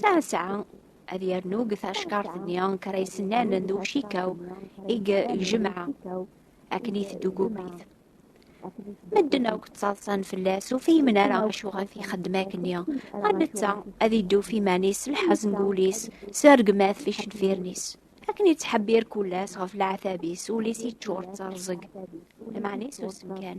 Sɛa-sɛa ad yernu deg tacekkaṛt-nni kker ay sennanen d ucikaw i yejmeɛ akken i teddugugit. Medden akk ttaḍsan fell-as, ur fihmen ara acuɣer i t-ixeddem akkenni, ɣer netta ad idduf iman-is s lḥaz n wul-is, s rregmat f icenfiren-is. Akken yettḥebbir kul ass ɣef leɛtab-is, ul-is yeččur d terẓeg, lmeɛna isusem kan.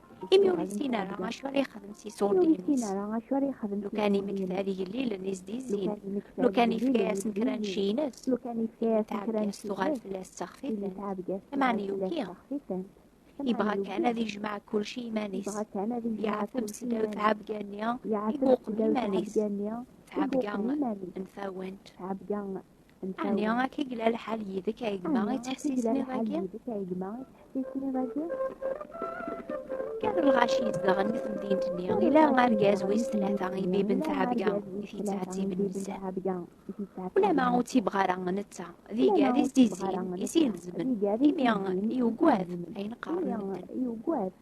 Imi ur yessin ara acu ara yexdem s iṣurdiyen-is. Lukan imektal igellilen i s-d-yezzin, lukan yefka-yasen kra n cci-ines, tɛebga-s tuɣal fell-as d taxfitant, imeɛna yuki. Yebɣa kan ad yejmeɛ kulci i iman-is, yeɛteb s ddaw tɛebga-nni i imuqel iman-is, tɛebga n tawant. Ɛni akka i yella lḥal yid-k ay gma i ttḥessisen iḍ-agi? Kan lɣaci yezdeɣen di temdint-nni, ila argaz wis tlata i biben tɛebga i t-yettɛettiben nezzeh. Ulama ur tt-yebɣa ara netta, d iga d isdizin i s-ilezmen, imi yugad ayen qqaren medden.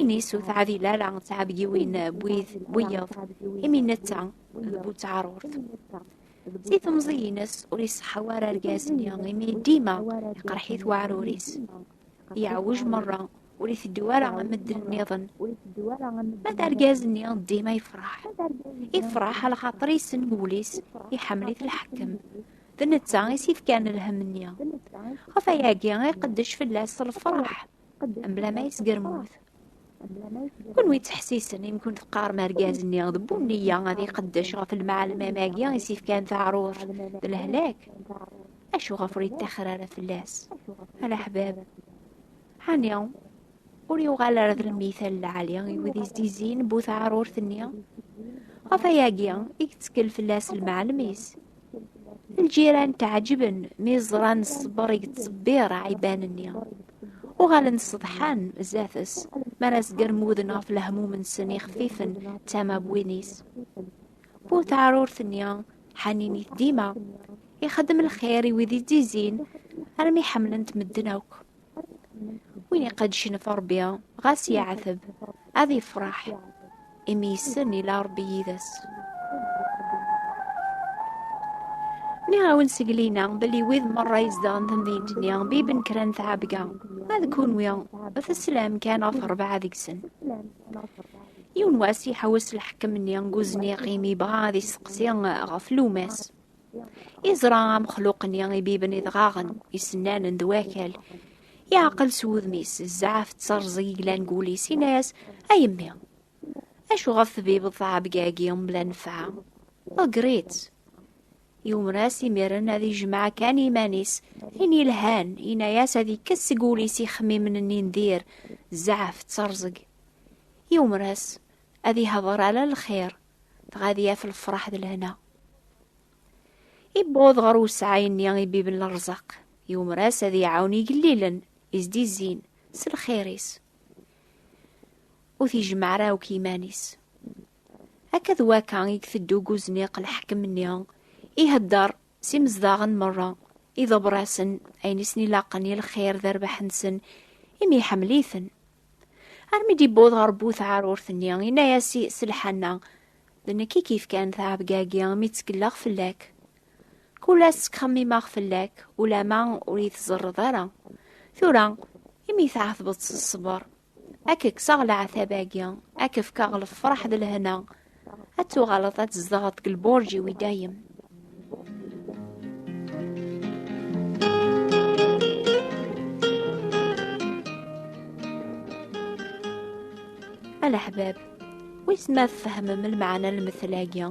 Ini-s ur teɛdil ara d tɛebgiwin n wiyeḍ, imi netta d bu teɛrurt. Si temẓi-ines ur iṣeḥḥa ara argaz-nni, imi dima iqerḥ-it weɛrur-is. Yeɛwej merra, ur iteddu ara am medden nniḍen. Ma d argaz-nni dima yefṛeḥ. Ifṛeḥ a lxaṭer yessen deg wul-is iḥemmel-it lḥekkem. D netta i s-ifkan lhemm-nni. Ɣef wayagi i iqeddec fell-as lfeṛḥ. Mebla ma yesgermut. Kunwi yettḥessisen imi kunt teqqarem argaz-nni d bu nniya ad iqeddec ɣef lmeɛlemam-agi i s-ifkan taɛruft d lehlak. Acuɣef ur yettaxer ara fell-as? A leḥbab! Ɛni ur yuɣal ara d lmital lɛali i wid izizin bu taɛrurt-nni? Ɣef ayagi i yettekkel fell-as lmeɛlem-is. lǧiran tɛeǧben mi ẓran ṣṣber i yettṣebbir ɛiban-nni. Uɣalen ṣeḍḥan zdat-s, mi ara sgermuden ɣef lehmum-nsen ixfifen d tama n win-is. Bu teɛrurt-nni, ḥaninit dima, ixeddem lxir i wid i d-izzin, armi ḥemmlen-t medden akk. win iqedcen ɣef Ṛebbi, ɣas yeɛteb, ad yefṛeḥ, imi yessen ila Ṛebbi yid-s. Nniɣ-awen seg lina belli wid merra izedɣen tamdint-nni biben kra n tɛebga, ma d kunwi teslam kan ɣef rebɛa deg-sen. Yiwen wass iḥewwes lḥekem-nni deg uzniq imi yebɣa ad yesteqsi ɣef Lumas. Iẓra amexluq-nni ibiben idɣaɣen, isennanen d wakal. Yeɛqel s wudem-is, zɛaf tterẓ yeglan deg wul-is, yenna-as, A yemmi, acu ɣef tbibeḍ tɛebga-agi mebla nnfeɛ? Ḍegger-itt! Yumer-as imiren ad ijmeɛ kan iman-is, ayen yelhan, yenna-as ad ikkes seg wul-is ixemmimen-nni n dir, zɛaf tterẓeg. Yumer-as ad ihder ala lxir, dɣa ad yaf lefraḥ d lehna. Iwweḍ ɣer usɛay-nni i bib n lerzaq, yumer-as ad iɛawen igellilen izdizzin s lxir-is. Ur t-ijemmeɛ ara akk iman-is. Akka d wakka i iteddu deg uzniq lḥekem-nni, ihedder s imezdaɣen merra, iḍebber-asen ayen i sen-ilaqen i lxir d rrbeḥ-nsen, imi iḥemmel-iten. Armi d-iwweḍ ɣer bu tɛarurt-nni, yenna-as i Selḥana, D nekk i k-ifkan tɛebga-agi mi ttkelleɣ fell-ak. Kul ass ttxemmimeɣ fell-ak, ulama ur yi-tẓerreḍ ara. Tura, imi tɛetbeḍ s ṣṣber, Ad k-kkseɣ leɛtab-agi, ad k-fkeɣ lefraḥ d lehna, ad tuɣaleḍ ad tzedɣeḍ deg lburǧ-iw i dayem. A leḥbab, wis ma tfehmem lmeɛna n lmettel-agi?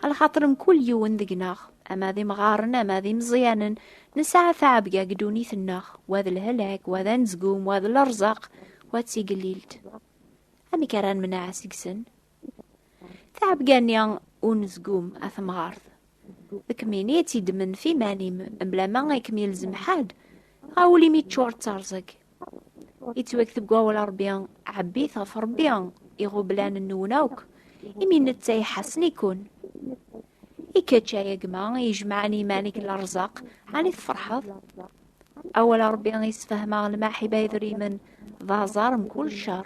Alxaṭer mkul yiwen deg-neɣ, ama d imɣaren, ama d imeẓyanen, Nesɛa taɛebga deg ddunit-nneɣ, wa d lhelak, wa d anezgum, wa d lerẓaq, wa d tigellilt. Amek ara nemneɛ seg-sen? Taɛebga-nni unezgum, a temɣart, d kemmini i tt-id-temenf iman-im, mblama i kem-ilzem ḥedd, ɣawul imi teččur d terẓeg, Ittweg deg wawal a Ṛebbi, ɛebbit ɣef Ṛebbi iɣublan-nwen akk, imi netta iḥassen-iken. I kečč, ay agma i ijemɛen iman-ik n lerẓaq, ɛni tfeṛḥeḍ? Awal a Ṛebbi yessefhem-aɣ lmaḥiba idrimen d aẓar mkul cceṛ.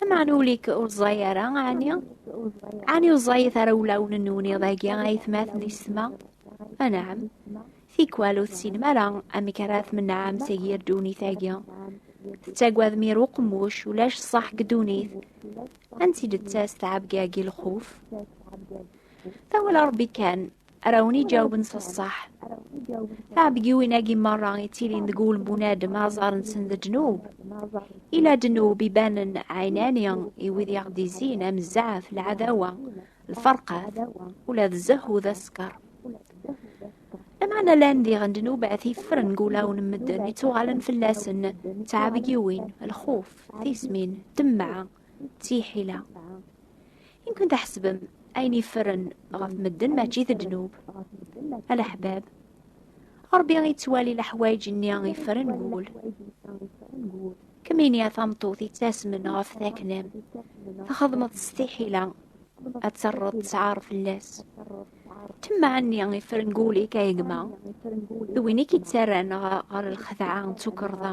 Lameɛna ul-ik ur ẓẓay ara, ɛni? Ɛni ur ẓẓayit ara wulawen-nwen iḍ-agi ay atmaten i ssma? Anɛam. Tikwal ur tessinem ara amek ara tmenɛem seg yir ddunit-agi. Tettagadem yir uqemmuc, ulac ṣṣeḥ deg ddunit. Ansi d-tettas tɛebga-agi lxuf? Tawala Ṛebbi kan, Ara wen-iǧawben s ṣṣeḥ. Taɛebgiwin-agi merra ittilin deg wul n bunadem aẓar-nsen d ddnub. Ila ddnub ibanen ɛinani i wid i aɣ-d-izzin am zzɛaf, lɛadawa, lferqat, ula d zzehhu d askeṛ. Lameɛna llan diɣen ddnubat iffren deg wulawen n medden, ittuɣalen fell-asen d taɛebgiwin, lxuf, tismin, ddemɛa, d tiḥila inkun taḥsbem ayen iffren ɣef medden mačči d ddnub alaḥbab ṛbi ittwali leḥwayeǧ-nni iffren wul kemmini a tameṭṭut ittasmen ɣef taknam txedmeḍ s tiḥila ad terreḍ tesɛar fell-as temmeɛni iffren wul-ik a gma d win i k-ittarran ɣer lxedɛa d tukerḍa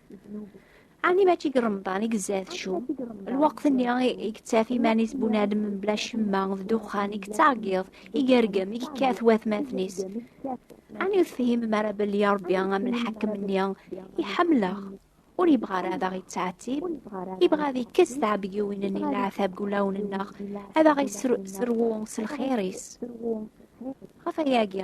Ani mačči deg Remḍan i gezza tcum, lweqt-nni i yettaf iman-is bunadem mebla ccemma d ddexxan i yettɛeggiḍ, i yergem, i yekkat watmaten-is. Ani ur tefhimem ara belli ya Rebbi am lḥakem-nni iḥemmleɣ, ur yebɣa ara ad aɣ-yettɛettib, yebɣa ad yekkes tɛebgiwin-nni n leɛtab deg wulawen-nneɣ, ad aɣ-yesserwu s lxir-is. Ɣef wayagi,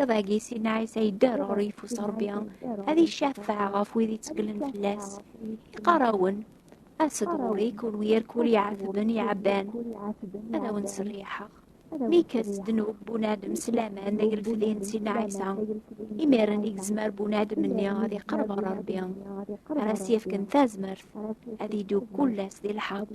Iḍ agi Sina Ɛisa yedder ɣer yeffus Rebbi ad icafeɛ ɣef wid ittgelen fell-as. Iqarawen, as-d ɣur-i kunwi irkul iɛatben iɛabban, ad awen-serriḥeɣ. Mi ikkes ddnub bunadem s laman d agelfdi n Sina Ɛisa, imiren i gezmer bunadem-nni ad iqerreb ɣer Rebbi, ara as-yefken tazmert ad idub kullas di lḥeqq.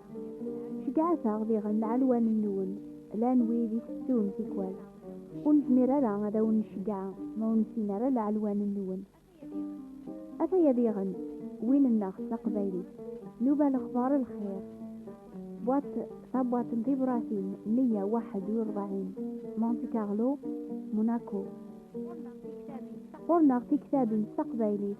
Ceggɛet-aɣ diɣen lɛelwan-nwen, llan wid itettun tikwal. Ur nezmir ara ad awen-nceggeɛ ma ur nessin ara lɛelwan-nwen. Ataya diɣen win-nneɣ s taqbaylit, Nuba Lexbar Lxir, Boîte tabwaṭ n tibṛatin 141, Monte Carlo, Monaco. Ɣur-neɣ tiktabin s taqbaylit.